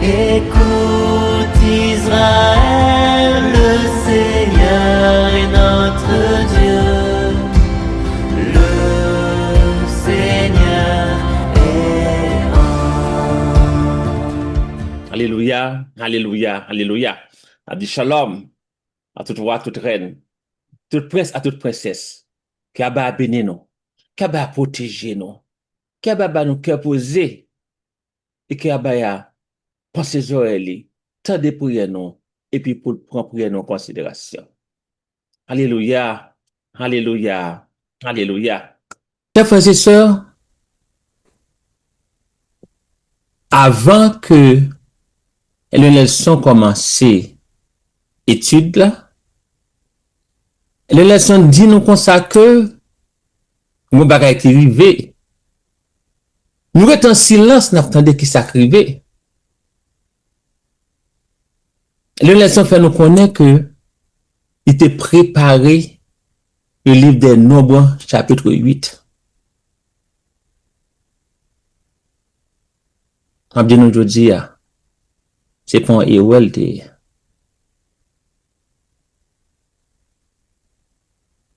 Écoute Israël, le Seigneur est notre Dieu, le Seigneur est un. Alelouya, alelouya, alelouya Nap di Shalom a tout wa, tout rèn, tout prens a tout prensès Ke Aba a beni nou, ke Aba a pwoteje nou, ke Aba a ba nou kè poze e ke Abaya panse zorèy li, tande priyè nou, epi pou l pran priyè nou an konsiderasyon. Alelouya! Alelouya! Alelouya! Chè frè e sè, avan ke Elder Nelson kòmanse etid la, Elder Nelson di nou konsa ke gen yon bagay ki rive Nou ret an silans nap tande kisak rive. Lew Nelson fè nou konnen ke li te prepare le liv dè nonb chapitre 8. Map di nou jodi a, se pa yon erè li te ye.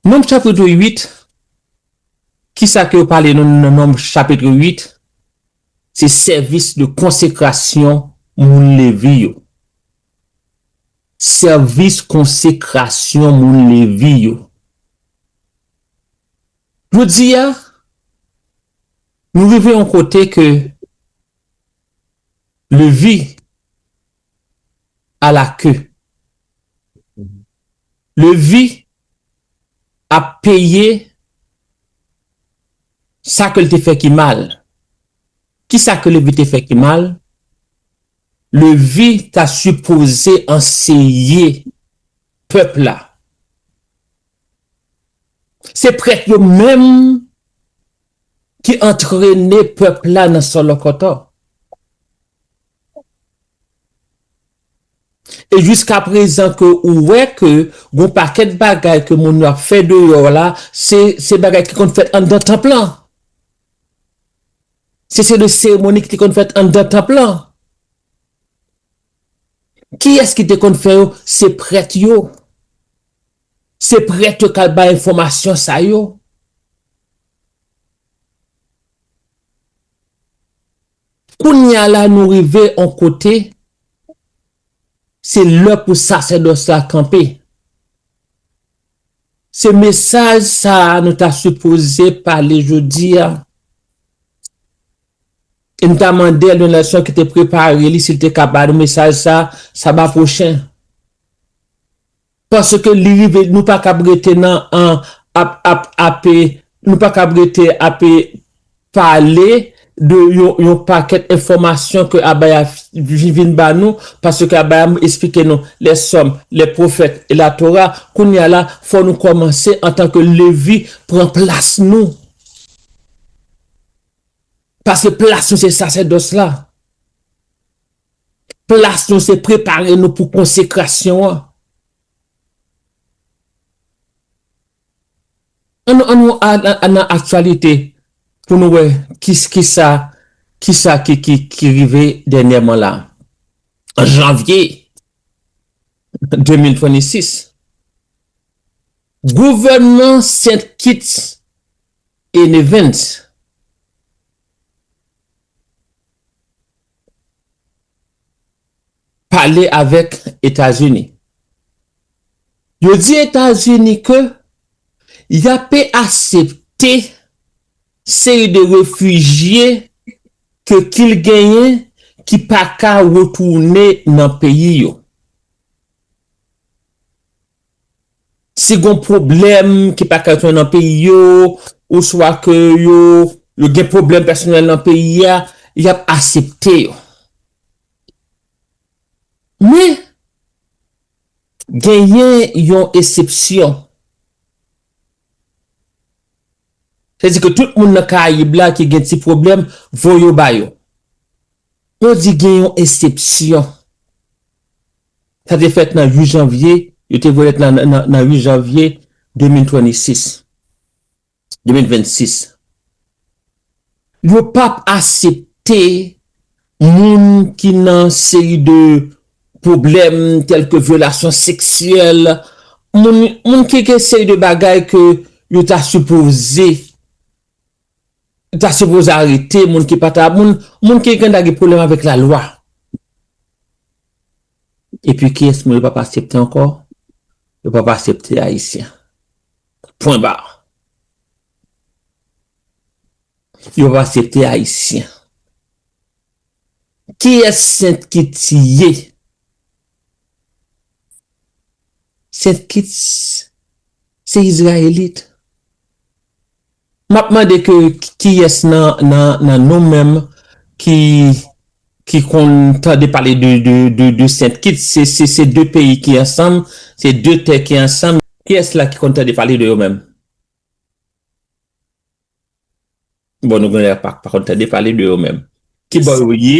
Nonb chapitre 8 Kisa ke yo pale nan Nonb chapitre 8? Se sèvis de konsekrasyon moun Levi yo. Sèvis konsekrasyon moun Levi yo. Jodi a, nou rive yon kote ke Levi. a la queue. Levi ap peye sa ke l te fè ki mal. Kisa ke Levi te fè ki mal? Levi ta sipoze anseye pèp la. Se prèt yo menm ki antrene pèp la nan sòlòkòtò. E jiska prezan ke ou wè ke gon pakèt bagay ke moun yo ap fè deyò la, se se bagay ki konn fèt anndan tanp lan. Se se de seremoni ki te konn fèt anndan tanp lan. Kiyès ki te konn fè yo? Se prèt yo. Se prèt yo kal bay enfòmasyon sa yo. Kounya la nou rive on kote se lè pou sasèdòs la kanpe. Se mesaj sa a nou ta sipoze pale jodi a e nou ta mande Elder Nelson ki te prepare li si l te ka ba nou mesaj sa a saba pwochen. Paske li rive nou pa kab rete nan an ap ap ape nou pa kab rete ape pale de yon yon pakèt enfòmasyon ke abaya vi vin ba nou paske abaya m esplike nou lè sòm lè pwofèt e la tora kounye a la fò nou kòmanse antan ke levi pran plas nou paske plas nou se sasèdòs la. Plas nou se prepare nou pou konsekrasyon an. Annou annou al nan aktyalite pou nou wè kisa kisa ki ki rive dènyèman la. An janvye 2026, gouvènman St. Kitts et Nevis pale avèk Etazini. Yo di Etazini ke y ape asepte seri de refijye ke kil genyen ki pa ka retounen nan peyi yo. Si gon pwoblèm ki pa ka jwenn nan peyi yo, oswa ke yo yo gen pwoblèm pèsonèl nan peyi a, y ap asepte yo. Men, genyen yon esepsyon. Se di ke tout moun nan Karayib la ki gen ti pwoblèm, voye yo ba yo. Yo di gen yon esepsyon. Sa te fèt nan 8 janvye, yo te voye lèt la nan 8 janvye 2026, 2026. Yo pa p asepte moun ki nan seri de pwoblèm tèlke vyolasyon seksyèl, moun, moun ki gen seri de bagay ke yo ta sipoze. Yo ta sipoze arete moun ki pata moun, moun ki gen ta gen pwoblèm avèk la lwa. Epi kiyès moun yo pap asepte ankò? Yo pap asepte ayisyen. Pwen bar. Yo pap asepte ayisyen. Kiyès sent ki tiye? Sent kits se izrayelit. Map mande ke kiyes nan nan nou menm ki ki konn tande pale de de de sent kits se se de peyi ki ansanm se de tè ki ansanm kiyes la ki konn tande pale de yo menm bon nou genlè pa konn tande pale de yo menm kibò yo ye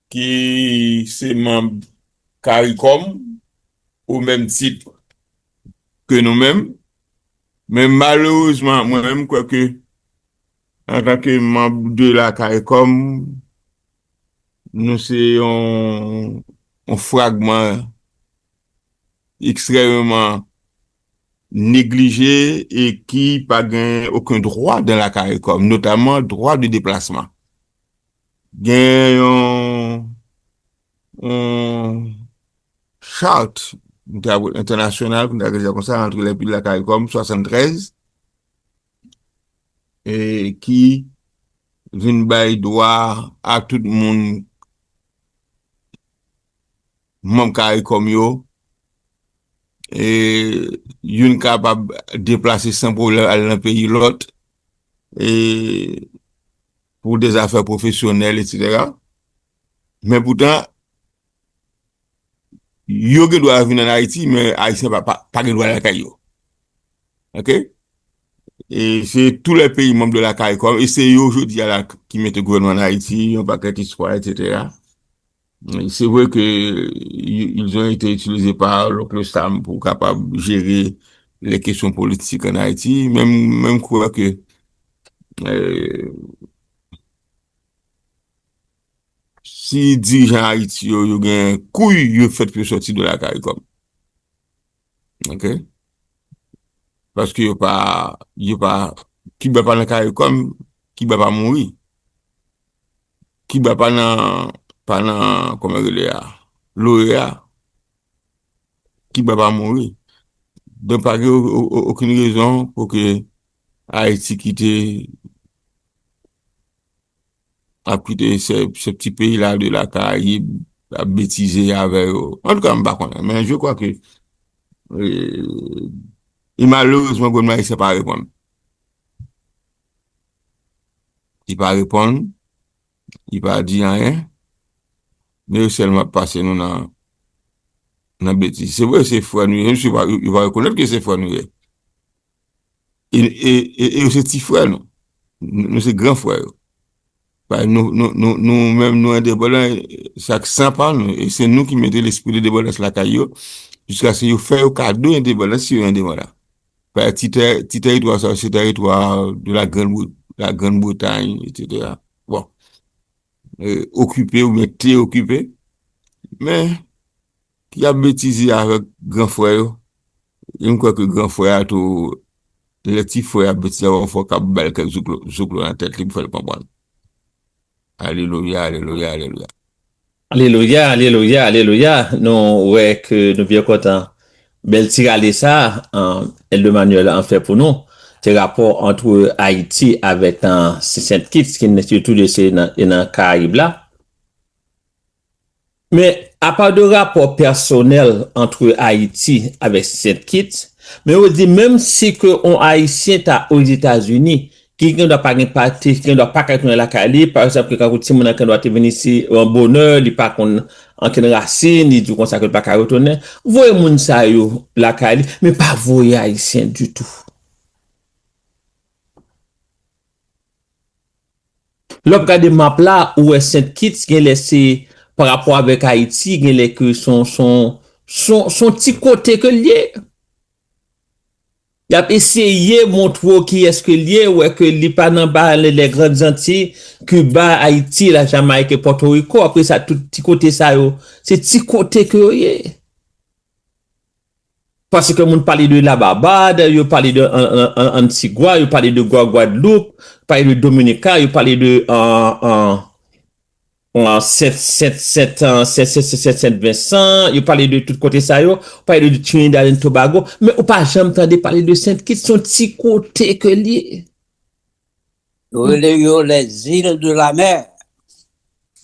ki se manb caricom o menm tit ke nou menm, men malerezman mwen menm kwè ke antan ke manb de la caricom nou se yon fragman ekstrememan neglije e ki pa gen oken dwa dan la caricom, notaman dwa de deplasman. Gen yon yon chart entènasyonal pou n ta rele l konsa antre lèpil la caricom 73 e ki vin bay dwa a tout moun manm caricom yo e youn kapab deplase san pwoblèm al nan peyi lòt e pou de zafè pwofesyonèl etsetera men poutan yo gen dwa vin an Ayiti men Ayisyen pa gen dwa lakay yo ok e se tou lè peyi manm de la caricom e se yo jodi a la ki mete gouvènman an Ayiti yon pakèt istwa etsetera. Se vre ke ils ont ete itilize pa Lonkle Sam pou kapab jere lè kesyon politik an Ayiti, men m kwè ke si dirijan Ayiti yo yo gen kouy yo fèt pou yo sòti de la Caricom. Ok? Paske yo pa, yo pa, Kiba pa nan Caricom, Kiba pa mouri. Kiba pa nan, pa nan, kòman yo rele a, l'OEA, Kiba pa mouri. Donk pa gen okenn rezon pou ke Ayiti kite, ap kite se pti peyi la de la Karayib, ap betize avè yo. An tou ka m pa konnen, men je kwa ke, e malerezman gouvènman Ayisyen pa reponn. Li pa reponn, li pa di anyen, men yo sèlman ap pase nou nan betiz. Se vre se frè nou ye, yo va rekonèt ke se frè nou ye. E yo se ti frè nou, nou se gran frè yo. Bay nou, nou, nou, nou menm nou endepandan sak san pa nou e se nou ki mete lespri lendepandans lakay yo jiskaske yo fè yo kado endepandans si yo endepandan. Bay ti tè, ti tèritwa sa yo se tèritwa de la grand Bri, la grand Bretagne et cetera. Bon, okipe oubyen te okipe men. Ki ap betize avèk gran frè yo. E m kwè ke gran frè a tou, lè ti frè a ap betize avè l, fò k ap ba l kèk zouklo, zouklo nan tèt li pou fè l konprann. Alelouya, alelouya, alelouya. Alelouya, alelouya, alelouya. Nou wè ke nou byen kontan bèl ti rale sa a Èldè Manuel an fè pou nou. Se rapò antre Ayiti avèk Sent Kits ki n, yo tou de se nan Karayib la. Men, apa de rapò pèsonèl antre Ayiti avèk Sent Kits, men yo di menm si ke yon Ayisyen ta Ozetazini, ki gen dwa pa gen pa te, ki gen dwa pa ka tounen lakay li, pa egzanp, kankou timoun nan ki gen dwa te vin isi yon bonè, li pa konn ankenn rasin, li di w konsa ke l pa ka retounen, voye moun sa yo lakay li, men pa voye Ayisyen ditou. Lè wap gade map la ou wè Saint Kitts genlè se pa rapò avèk Haiti genlè ke son son son son ti kote ke liye. Yap eseye montre w kiyès ke liye ou wè ke li pa nan ba lè lè grand zanti, Cuba, Haiti, la Jamaïque et Porto Rico apresa tout ti kote sa yo se ti kote ke yo ye. Paske moun pale de la Barbad, yo pale de Antigua, yo pale de Guaguadeloupe, yo pale de Dominica, yo pale de Sent Vensan, yo pale de tout kote sa yo, yo pale de Trinidad and Tobago, men ou pa janm tande pale de Sent Kit, son ti kote ke li ye. Yo rele yo les îles de la mer.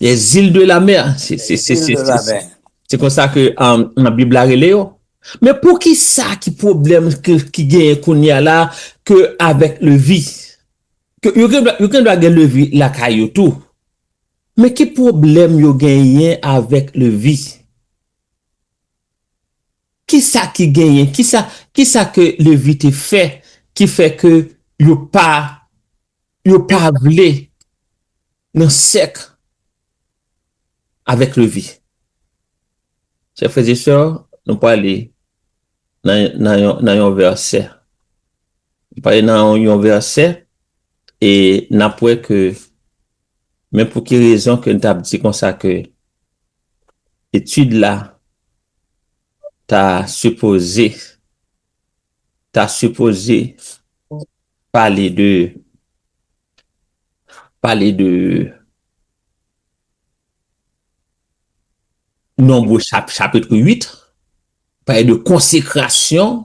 Les îles de la mer. Se konsa ke nan bib la rele yo. Men poukisa ki pwoblèm ki genyen kounye a la ke avèk levi. Yo gen dwa gen levi lakay yo tou. Men ki pwoblèm yo genyen avèk levi. Kisa ki genyen? Kisa kisa ke Levi te fè ki fè ke yo pa yo pa vle nan sèk avèk Levi? Chè frè e sè, nou prale nan nan yon nan yon vèsè. Nou prale nan yon vèsè e nap wè ke Men pou ki rezon ke n t ap di konsa ke etid la ta sipoze, ta sipoze pale de, pale de nonbo chapit 8, pale de konsekrasyon.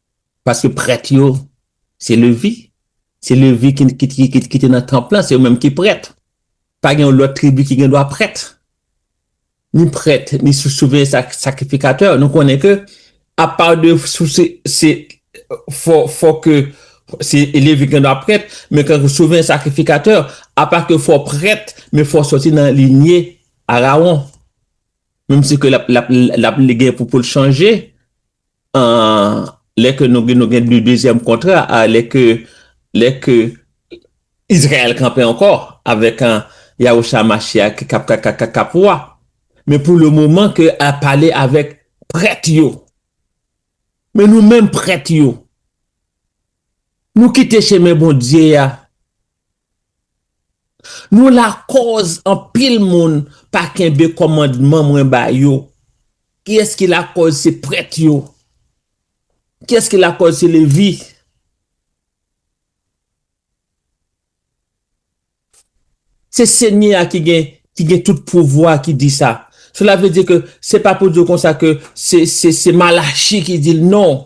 Paske prèt yo, se Levi. Se Levi ki te nan tanp lan, se yo menm ki prèt. Pa gen yon lòt tribi ki gen dwa prèt. Ni prèt, ni siveyan sakrifikatè. Nou konnen ke apa de sou se fò ke se Levi ki gen dwa prèt, men kankou siveyan sakrifikatè, apa ke fò prèt, men fò soti nan linye Arawon. Menm si ke l ap gen pou l chanje. Lè ke nou gen nou gen de dezyèm kontra a lè ke lè ke Izrayèl kanpe ankò avèk Yahusha HaMashiach ki kap kap kap kap wa men pou le moman ke al pale avèk prèt yo men nou menm prèt yo nou kite chemen Bondye a Nou lakòz anpil moun pa kenbe kòmandman mwen ba yo. Kiyès ki lakòz se prèt yo? Kiyès ki lakòz se Levi? Se Senyè a ki gen tout pouvwa ki di sa. Sela vle di ke se pa pou di konsa ke se Malachi ki di l, non.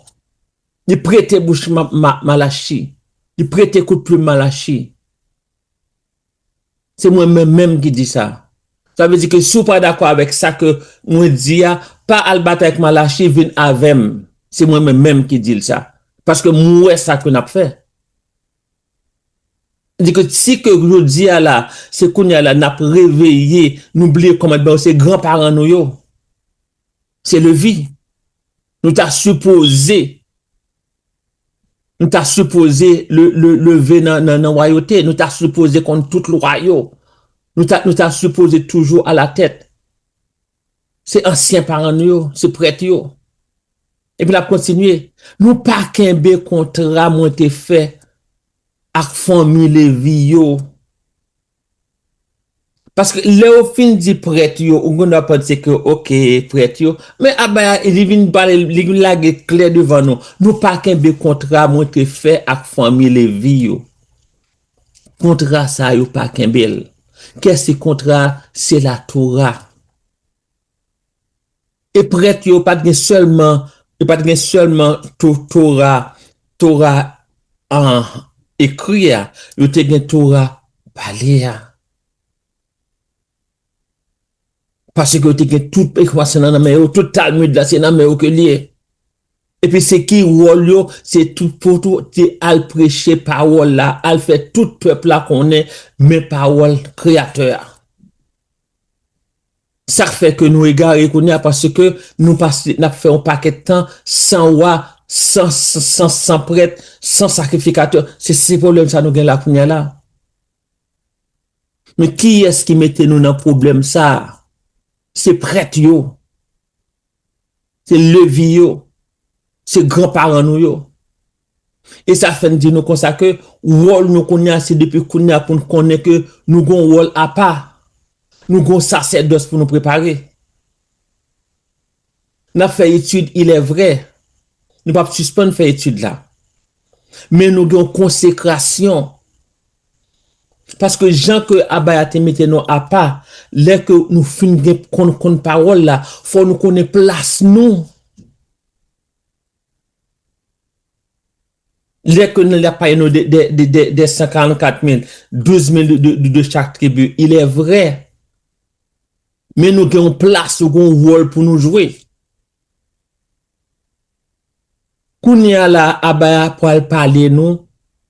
Li prete bouch Malachi. Li prete kout plim Malachi. Se mwen menm menm ki di sa. Sa vle di ke si w pa dakò avèk sa ke mwen di a, pa al batay ak Malachi, vin avè m. Se mwen menm menm ki di l sa. Paske m wè sa ke n ap fè. Sa di ke si ke jodi a la, se kounye a la n ap reveye, nou bliye kòmandman yo, se gran paran nou yo. Se levi Nou ta sipoze Nou ta sipoze leve nan wayote Nou ta sipoze konn tout lwa yo Nou ta sipoze toujou ala tèt Se ansyen paran nou yo Se prèt yo Epi lap kontinye Nou pa kenbe kontra mwen te fè Ak fanmi levi yo. Paske lè yo fin di prèt yo, ou konn wap panse ke ok prèt yo, men Abaya li vin pale li vin lage klè devan nou, nou pa kenbe kontra mwen te fè ak fanmi Levi yo. Kontra sa yo pa kenbe l. Kè se kontra a? Se latora. E prèt yo pa t gen sèlman, yo pa t gen sèlman to, Tora, Tora a, ekri a, yo te gen Tora pale a. Paske yo te gen tout Ekwansyon nan nan men yo, tout Talmid la se nan men yo ke l ye. Epi se ki wòl yo, se tou, pou tou, te al preche Pawòl la, al fè tout pèp la konnen men Pawòl Kreyatè a. Sak fè ke nou egare kounya paske nou pase nap fè yon pakèt tan san wa san san san prèt san sakrifikatè se se problèm sa nou gen la kounya la men kiyès ki mete nou nan problèm sa se prèt yo Se levi yo. Se gran paran nou yo. E sa fè n di nou konsa ke wòl nou kounye a se depi kounye a pou n konnen ke nou gon wòl apa. Nou gon sasèdòs pou nou prepare. N ap fè etid ilèvre. Nou p ap sispann fè etid la. Men nou gen yon konsekrasyon. Paske jan ke Abaya te mete nou apa, lè ke nou fin gen konn konn pawòl la, fò nou konnen plas nou. Lè ke nou ap pale nou de de de de de 144 mil, 12 mil de de de chak tribi, ilè vrè. Men nou gen yon plas, nou gen yon wòl pou nou jwe. Kounyea la a Aba a pwal pale nou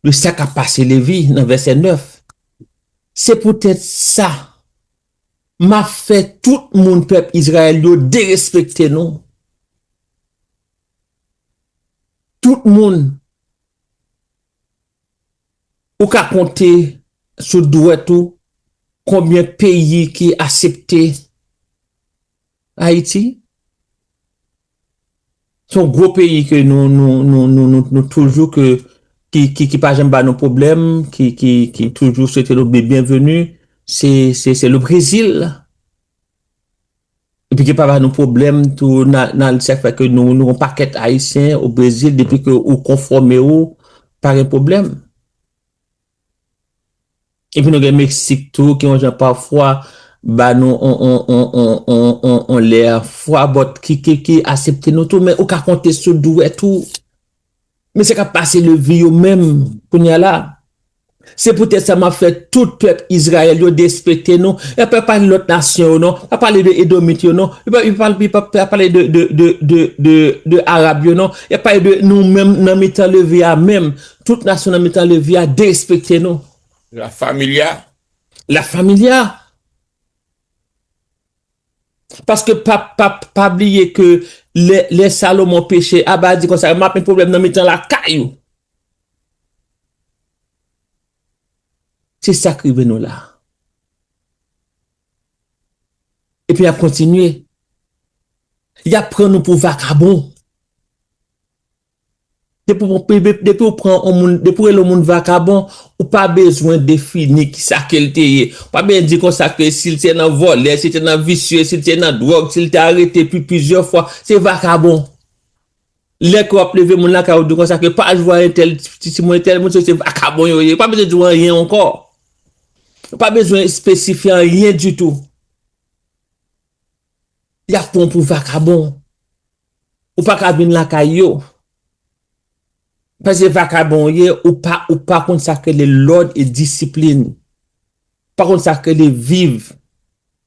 de sa kap pase Levi nan vèsè 9, Se poutèt sa, map fè tout moun pèp Izrayèl yo derespekte nou, tout moun ou ka konte sou dwèt ou konbyen peyi ki asepte Ayiti se yon gwo peyi ke nou nou toujou ke ki pa janm ba nou pwoblèm, ki toujou swete nou byenveni, se le Brezil. Epi ki pa ba nou pwoblèm tou nan sa fè ke nou yon pakèt Ayisyen o Brezil depi ke ou konfòme ou, pa gen pwoblèm. Epi nou gen Mexique tou ki yon jan pafwa ba nou yon lè fwa but ki asepte nou tou men ou ka konte sou dwèt ou mesye kap pase le vi yo menm kounye a la se pou tèt sa map fè tout pèp Israel yo despekte nou yo pa pale lòt nasyon yo non pa pale de edomit yo non yo pa pale de arab yo non yo pale de nou menm nan mitan le vi a menm Tout nasyon nan mitan levi a derespekte nou. La Familia. La Familia. Paske pa pa pa bliye ke lè lè Salomon peche Abba di konsa, m'ap met pwoblèm nan mitan lakay ou. Se sa k rive nou la. Epi y'ap kontinye. Y'ap pran nou pou vakabon. Depi ou pran yon moun, depi ou rele yon moun vakabon, ou pa bezwen defini ki sa ke l te ye. Ou pa bezwen di kon sa ke si l te nan vòlè, si l te nan visye, si l te nan dwòg, si l te arete pi plizyè fwa, se vakabon. Lè ke w ap leve moun lakay ou di kon sa ke pa jwe a entèl, ti timoun entèl, moun sa yo se vakabon yo ye. Ou pa bezwen di w anyen ankò. Ou pa bezwen espesifye anyen ditou. Yap pran w pou vakabon. Ou pa ka vin lakay yo. Pase vakabon w ye, ou pa ou pa konn sak rele lòd e disiplin. Ou pa konn sak rele viv.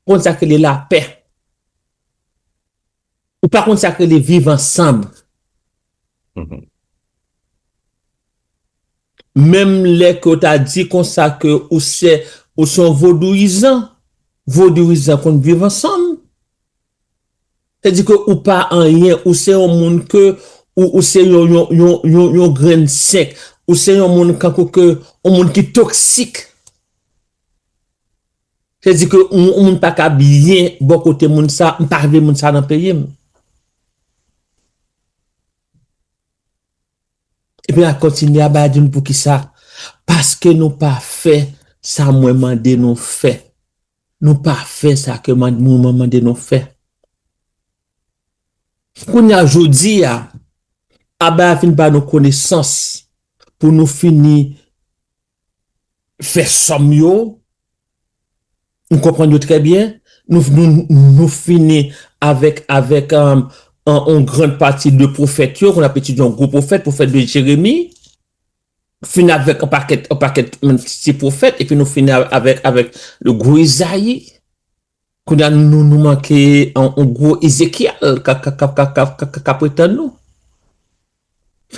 Ou pa konn sak rele lapè. Ou pa konn sak rele viv ansanm. Menm lè ke w ta di konsa ke ou se ou se yon vodouyizan, vodouyizan konn viv ansanm. Se di ke ou pa anyen, ou se yon moun ke ou ou se yon yon yon yon yon grenn sink, ou se yon moun kankou ke yon moun ki toksik. Se di ke yon moun pa ka byen bò kote moun sa, m pa vle moun sa nan peyi m. Epi la kontinye aba di m poukisa, paske nou pa fè sa mwen mande nou fè. Nou pa fè sa ke mwen mande nou fè. Kounye a jodi a, aba a fin ba nou konesans pou nou fini fè sòm yo, nou konprann yo trè byen, nou fini avèk yon grand pati de pwofèt yo, konn ap etidye yon gwo pwofèt, pwofèt de Jeremi, fini avèk yon pakèt, yon pakèt ti pwofèt, epi nou fini avèk gwo Izayi. Kounya nou nou manke yon gwo Ezekyèl kap ret tann nou.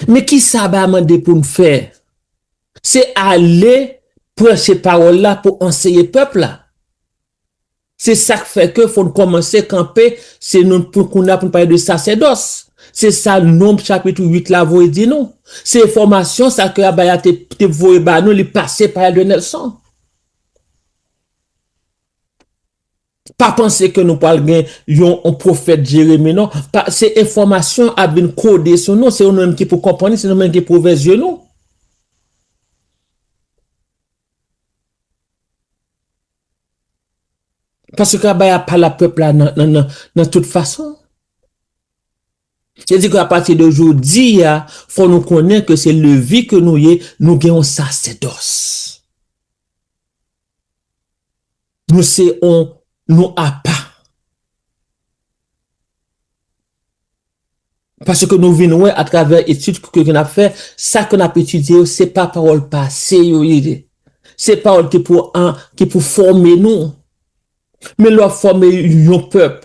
Men kisa aba mande pou n fè? Se ale preche pawòl la pou anseye pèp la. Se sak fè ke fò n kòmanse kanpe se nou pou kounya pou n pale de sasèdòs. Se sa Nonb chapitre 8 la voye di nou. Se enfòmasyon sa ke aba ya te voye ba nou li pase pa Elder Nelson. Pa panse ke nou pwal gen yon pwofèt Jeremi non. Se enfòmasyon an ap vin kode sou nou, se nou menm ki pou konprann li, se nou menm ki pou ouvè zye nou. Paske travay a pa la pèp la nan tout fason. Se di ke a pati de jodi a, fò nou konnen ke se Levi ke nou ye, nou gen yon sasèdòs. Nou se yon, nou apa. Paske nou vin wè a travè etid ke ke n ap fè, sa ke n ap etidye yo se pa pawòl pase yo ye. Se pawòl ki pou an, ki pou fòme nou. Men lè w ap fòme yon pèp.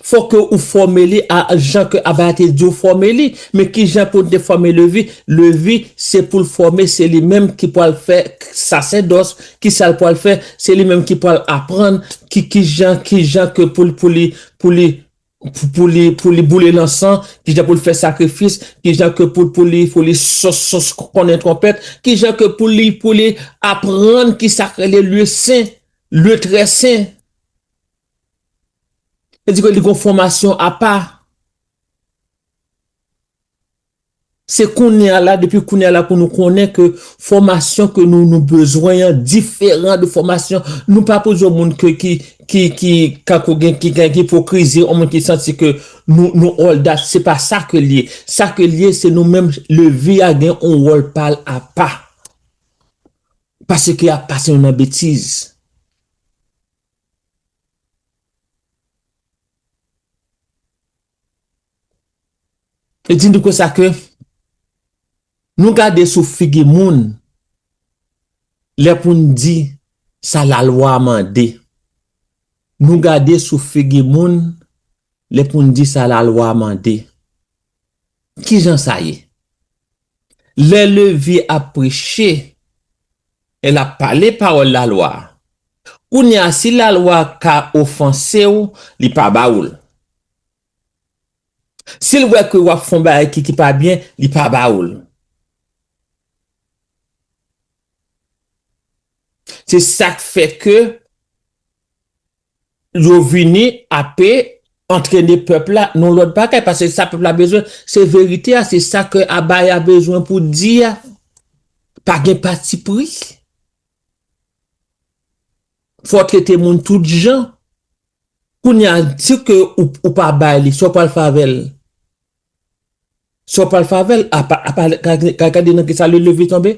Fò ke ou fòme li a jan ke Aba a te di ou fòme li. Men ki jan ke ou te fòme Levi? Levi, se pou l fòme, se li menm ki pwal fè sasèdòs. Ki sa l pwal fè? Se li menm ki pwal aprann ki ki jan, ki jan ke pou l, pou li, pou li, pou li, pou li boule lansan, ki jan pou l fè sakrifis, ki jan ke pou, pou li, pou li sos, sos konnen twonpèt, ki jan ke pou li, pou li aprann ki sa k rele lye sen, lye trè sen. Yo di ke li gon fòmasyon apa. Se kounye a la, depi kounye a la pou nou konnen ke fòmasyon ke nou nou bezwen an diferan de fòmasyon, nou pa pou di moun ke ki ki ki kako gen ki gen ipokrizi, on moun ki santi ke nou nou all dat, se pa sa ke li ye. Sa ke li ye se nou menm levi a gen on wòl pa l apa. Paske y ap pase nou nan betiz. E di nou konsa ke nou gade sou figi moun lè pou n di sa lalwa mande. Nou gade sou figi moun lè pou n di sa lalwa mande. Kijan sa ye? Lè Levye ap preche, L ap pale pawòl lalwa a. Kounye a, si lalwa a ka ofanse w, li pa ba ou l. Si l wè ke w ap fè yon bagay ki pa byen, li pa ba ou l. Se sa k fè ke. yo vini ape antrene pèp la non lòt bagay paske sa pèp la bezwen se verite a se sa kè abaya bezwen pou di a pa gen patipri fò trete moun tout jan kounye a si ke ou pa bay li sa w pral fè avèl sa w pral fè avèl apa gade nan kisa li leve tonbe.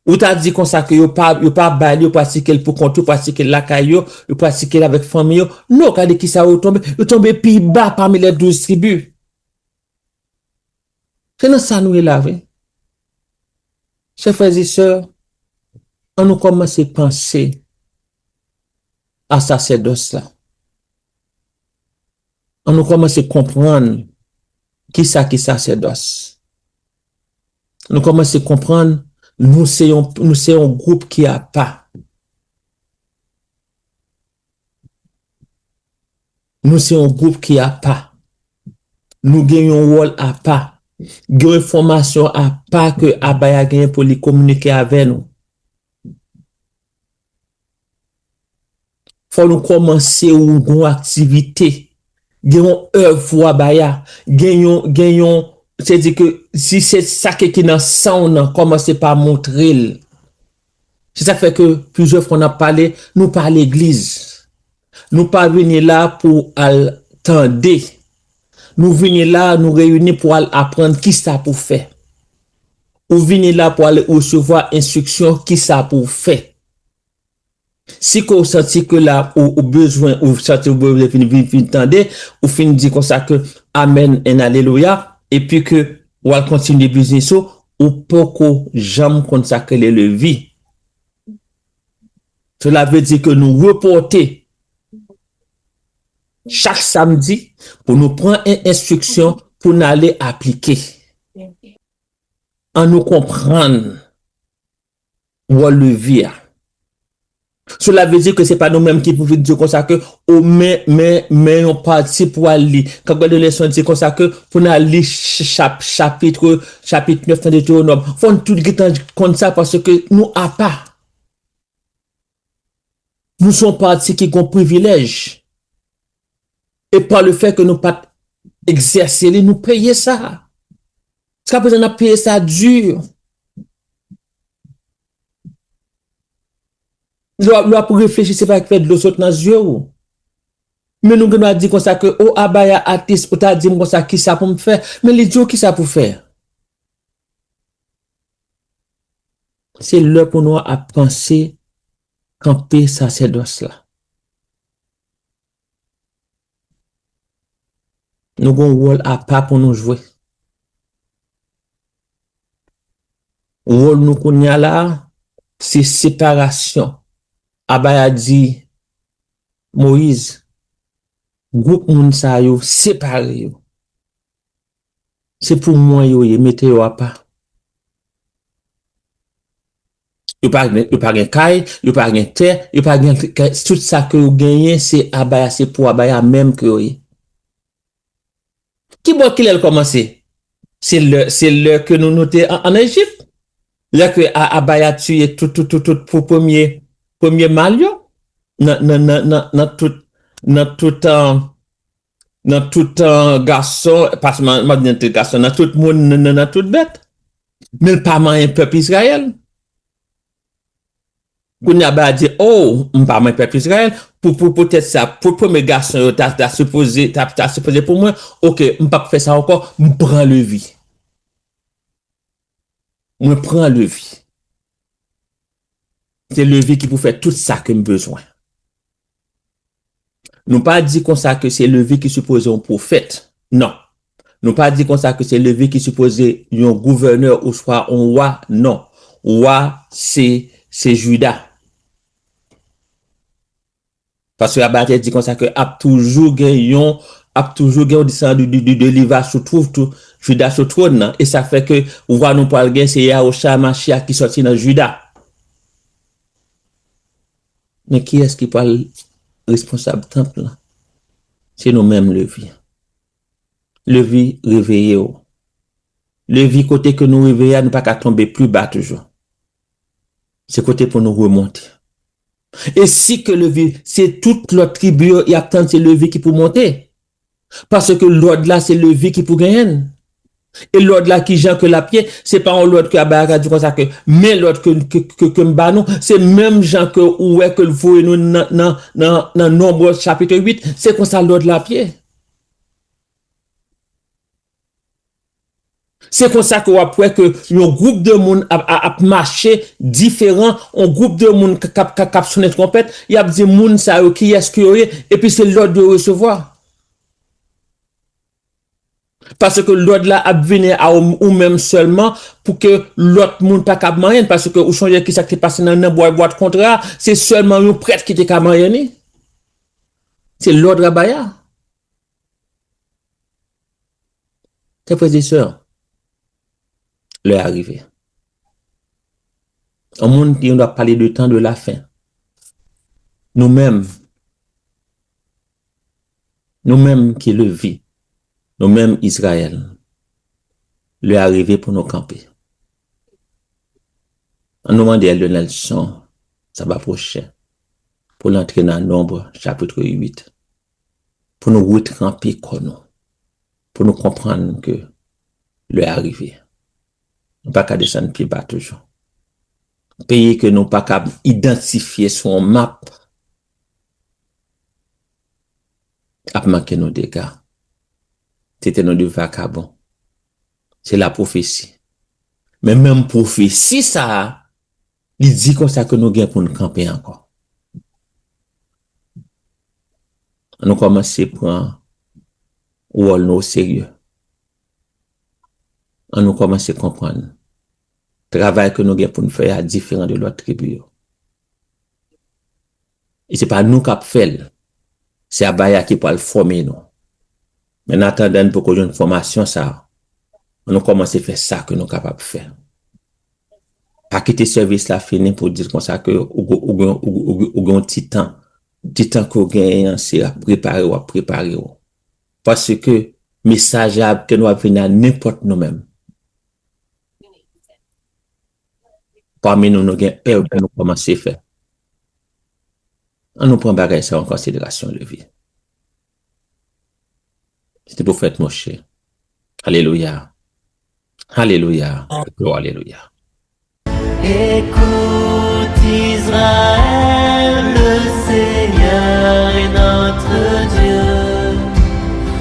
Ou ta di konsa ke yo pa, yo pa bay li, yo pratike l pou kont yo, pratike l lakay yo, yo pratike l avèk fanmi yo. Non, gade kisa yo tonbe, yo tonbe pi ba pami les douze tribus. Se nan sa nou ye la vre. Chè frè e sè, an nou kòmanse panse a sasèdòs la. An nou kòmanse konprann ki sa ki sasèdòs. Nou kòmanse konprann nou se yon nou se yon gwoup ki apa. Nou se yon gwoup ki apa. Nou gen yon wòl apa. Gen yon enfòmasyon apa ke Abaya genyen pou li kominike avè nou. Fò nou kòmanse ou gon aktivite, gen yon èv wa bay a, gen yon, gen yon, se di ke si se sa ke ki nan san w nan kòmanse pa montre l. Se sak fè ke plizyè fwa nap pale, nou pa legliz. Nou pa vini la pou al tande. Nou vini la, nou reyini pou al aprann kisa pou fè. Ou vini la pou al resevwa enstriksyon kisa pou w fè. Si ke w santi ke la ou bezwen ou santi ou bezwen vin vin vin tande, ou fin di konsa ke Amen and Alelouya epi ke w al kontinye biznis ou, ou poko janm konn sa ke le levi. Cela veut dire ke nou repòte. Chak samdi pou nou pran 1 enstriksyon pou n ale aplike. Annou konprann wòl levi a. Sela vle di ke se pa nou menm ki pou vin di yo konsa ke o men, men, men yon pati pou al li. K ap gade yon leson di konsa ke pou n al li chap, chapitre, chapit 9 nan Deteronòm. Fò n tout gen tan konn sa paske nou apa. Nou se yon pati ki gen yon privilèj e pa le fè ke nou pat egzèse li nou peye sa. Jiska prezan nap peye sa dur. Lè wap reflechi se pa ki fè dlo sot nan zye ou. Men nou gen dwa di konsa ke o Abaya atis ou ta dim konsa kisa poum fè? Men li diw kisa pou fè. Se lè pou nou ap panse kanpe sasèdòs la. Nou gon wòl apa pou nou jwe. Wòl nou kounye a la a, se separasyon. Aba ya di Moyiz, gwoup moun sa yo, separe yo. Se pou mwen yo ye mete yo apa. Yo pa gen yo pa gen kay, yo pa gen tè, yo pa gen tout sa ke yo genyen se abaya se pou abaya menm ke yo ye. Ki bò kilè l kòmanse? Se lè se lè ke nou nou te an Ejip. Lè ke a abaya tiye tout tout tout tout pou premye premye mal yo nan nan nan nan nan tout nan tout an Nan tout gason, pa sèlman nan tout gason, nan tout moun, nan tout bèt. Men l pa manyen pèp Izrayèl. Kounye a, Bala di, O, m pa manyen pèp Izrayèl. Poutèt sa, pou premye gason yo ta sipoze pou mwen, ok, m pap fè sa ankò, m pran Levi. Mwen pran levi. Se levi ki pou fè tout sa ke m bezwen. Nou pa di konsa ke se levi ki sipoze yon pwofèt. Non. Nou pa di konsa ke se levi ki sipoze yon gouvènè ou swa yon wa. Non. Wa se, se Juda. Paske la Bib la te di konsa ke ap toujou gen yon, ap toujou gen yon desandan de de Leva sou twou twou, Juda sou twòn nan. E sa fè ke Wa nou pral gen se Yahusha HaMashiach ki sòti nan Juda. Men kiyès ki pral responsab tanp lan? Se nou menm Levi. Levi reveye w. Levi kote ke nou reveye a nou pa ka tonbe pli ba toujou. Se kote pou nou remonte. E si ke levi se tout lòt tribi yo yap tann se levi ki pou monte. Paske lòd la se levi ki pou genyen l. E lòd la kijan ke lap ye, se pa yon lòd ke Abayaka di konsa ke men lòd ke kem ba nou, se menm jan ke ou wè ke l voye nou nan Nombre chapitre 8, se konsa lòd la ap ye. Se konsa ke wap wè ke yon gwoup de moun ap mache diferan, yon gwoup de moun kap sonnen twonpèt, yap di moun sa yo kiyès ke yo ye, epi se lòd yo resevwa. Paske lòd la ap vini a ou menm sèlman pou ke lòt moun pa kab manyen, paske ou sonje kisa ki te pase nan bwat kontra a, se sèlman yon prèt ki te ka manyen li. Se lòd Rabaya. Chè frè e sè, lè a rive. Yon moun ki yon do ap pale de tan de la fen. Nou menm, nou menm ki levi, nou menm Izrayèl, lè a rive pou nou kanpe. An nou mande Elder Nelson sa ba pwoche pou l antre nan Nonb chapitre 8. pou nou retranpe kò nou, pou nou konprann ke lè a rive. Nou pa ka desann pi ba toujou. Peyi ke nou pa kab idantifye sou yon map ap manke nou dega. Tete nou de vakabon. Se lapwofesi. Men menm pwofesi sa a Li di konsa ke nou gen pou nou kanpe ankò. An nou kòmanse pran wòl nou oserye. An nou kòmanse konprann travay ke nou gen pou nou fè a diferan de lòt tribi yo. E se pa nou k ap fè l. Se Abaya ki pral fòme nou. Men annatandan n poko jwenn fòmasyon sa a, an nou kòmanse fè sa ke nou kapab fè. Pa kite sèvis la fini pou w di l konsa ke ou gen yon ti tan. Ti tan ke w genyen an se ap prepare w ap prepare w. Paske mesaj la ap gen dwa vini a nenpòt nou menm. Pami nou, nou gen èv pou nou kòmanse fè. Annou pran bagay sa yo an konsiderasyon, leve. Se te pou fèt Moche. Alelouya! Alelouya! Glwa! Alelouya!